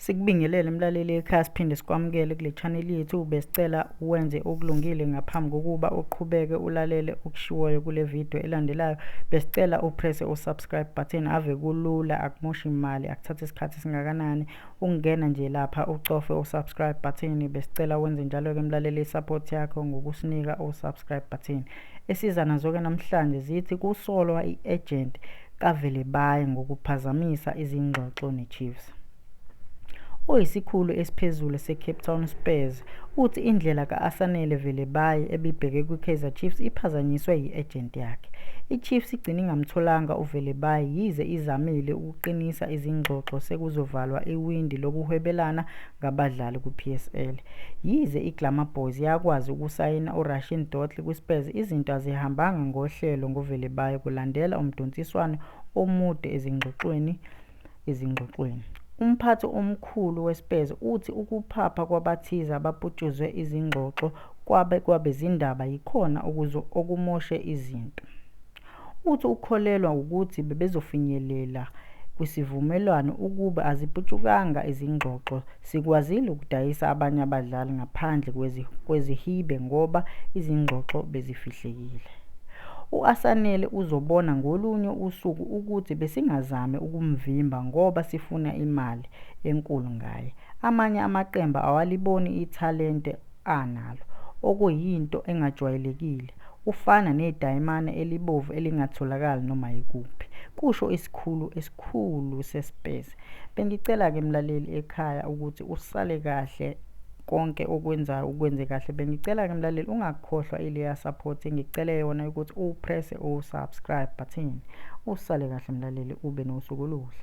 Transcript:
Sikubingelele mlaleli ekhaya siphinde sikwamukele kule channel yethu besicela wenze okulungile ngaphambi kokuba uqhubeke ulalele okushiwoyo kule video elandelayo besicela upresse usubscribe button ave kulula akumoshi imali akuthatha isikhathi singakanani ungena nje lapha ucofe usubscribe button besicela wenze njalo ke mlaleli support yakho ngokusinika usubscribe button Esiza nazoke namhlanje zithi kusolwa i-agent kaVelebayi ngokuphazamisa izingxoxo neChiefs. Oyisikhulu esiphezulu seCape Town Spurs uthi indlela ka-Asanele Velebayi ebibheke kwiKaizer Chiefs iphazanyiswe yi-agent yakhe. IChiefs igcine ingamtholanga uVelebayi yize izamile ukuqinisa izingxoxo sekuzovalwa iwindi lokuhwebelana ngabadlali kwiPSL. Yize iGlamour Boys yakwazi ukusayina uRashin Dortli kwiSpurs, izinto azihambanga ngohlelo ngoVelebayi kulandela umdonsiswano omude ezingxoxweni ezingxoxweni. Umphathi omkhulu weSpurs uthi ukuphapha kwabathize abaputshuzwe izingxoxo kwabe kwabezindaba yikhona okumoshe izinto. Uthi ukholelwa wukuthi bebezofinyelela kwisivumelwano ukube aziputshukanga izingxoxo. Sikwazile ukudayisa abanye abadlali ngaphandle kwezihibe ngoba izingxoxo bezifihlekile. U-Asanele uzobona ngolunye usuku ukuthi besingazami ukumvimba ngoba sifuna imali enkulu ngaye. Amanye amaqembu awaliboni ithalente analo, okuyinto engajwayelekile, ufana nedayimane elibovu elingatholakali noma yikuphi, kusho isikhulu esikhulu seSpurs. Bengicela-ke mlaleli ekhaya ukuthi usale kahle konke okwenzayo ukwenze kahle. Bengicela-ke mlaleli ungakhohlwa ileya support engicele yona ukuthi uprese usubscribe button. Usale kahle mlaleli ube nosuku oluhle.